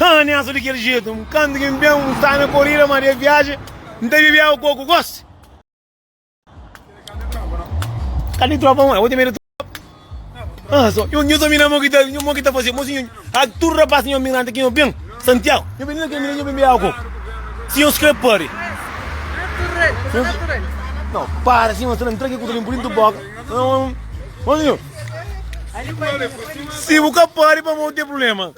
Haa N asa di kel jetu N kantu ki N ben N sta na korida ma des viaji N ta bibi agu koku gosi Kal di tropa mô? Bo ten medu di tropa? Haa so Nho nho so mi na mô ki ta nho mô ki ta fase mô si nho ak tudu rapas di nho migranta ki nho ben Santiagu nho ben na kel mina nho ben bibi agu koku si nho skrê pari nho para si nho sta na N tra ki ku ta ben pudi N tuboka Haa Mô si nho si bu ka pari pamodi bu ten prubléma.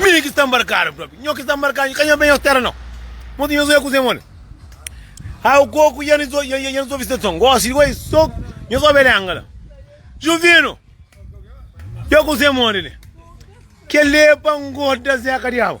Mi ki sta nbarkadu propi. Nho ki sta nbarkadu, ka nho ben nhos tera nau. Monti nhos oia kuze moli. Au koku ya nhos ya ya nhos obi sta son. Gosi di goi so nhos obi lenga la. Juvinu, ya kuze moli li. Kelepa ngoda zeka diabu.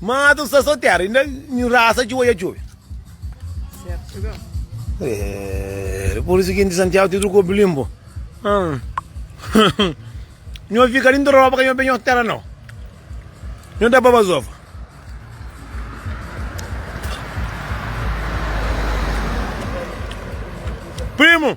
Mata un stason tera i na nhu rasa djobe a djobe. Dipus di siginti Santiagu ti truku obi limpu. Nhu a fika dintu roba ka nhu a benha otu tera nau. Nhu ta baba zofa. Primu!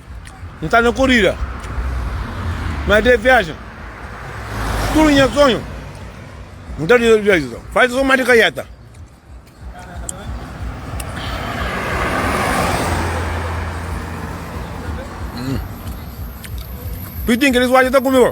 N sta na korida, ma é de viajen Tudu nha sonhu N ta realiza Faze son má di kaieta Pitin kelis wadja ta kume-u.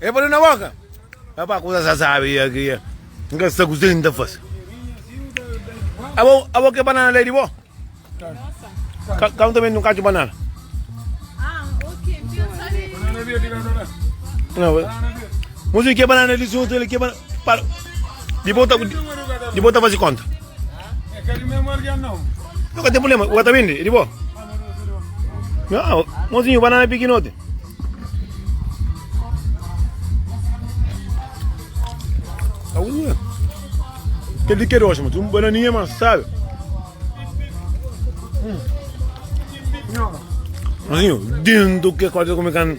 E fla-l, Na boka! Apa kuza sa sabi ya ki N ka sta kuzê ki N ta fase. Abo, abo ke banana la e di bo? Ka, ka N ta bende un kacu banana? Não, música que é banana de junto, ele que é banana. Para. Depois tá, depois tá fazer conta. No ka ten problema, o ta bende, e di bo? Não, mozinho, banana é pequenote. Tá bom, né? Que de que rocha, mas um bananinha, mas sabe? Mozinho, dentro que é quase como é que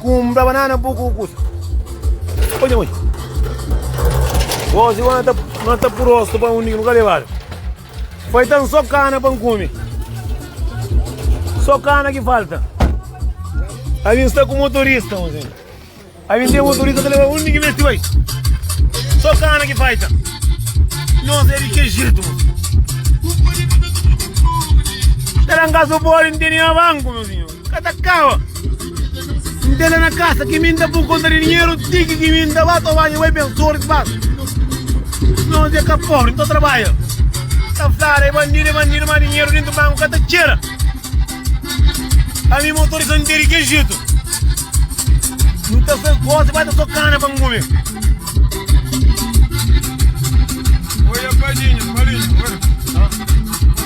Kumpra banana bu ku kusta. Oja mui. Gosi wana ta na ta purosto pa undi nu ka levado. Foi tan só cana pa cume. Só cana que falta. A gente está com motorista, mozinho. Assim. A gente tem motorista que leva undi que mete vai. Só cana que falta. Nós é de que jeito, mozinho. Assim. Era um caso bom, não tem nem banco, mozinho. Assim. Ka ta kaba. N tene na kasa ki mi N ta pun konta di dinheru ti ki mi N ta ba ta banja bai ben sor spas no se ka pobri N ta trabadja ta flada e bandidu e bandidu ma dinheru dintu banku ka ta txera ami motorista N tene ke jitu N ta fes gosi ba ta so kana pa N kume Oia padinha, padinha,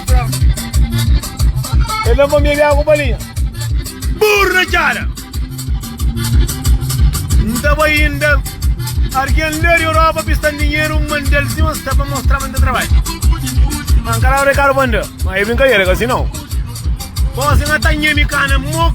oia. El dá-m pa bebe agu balinha. Burro na txada! N ta bai inda. Argen la di Europa pista-m dinheru, N manda-l sima sta pa mostra ma N ta trabadja. N ka daba de karu pa N da. Ma é brinkadera, ka si nau. Gosi N atandja mi kana, mo.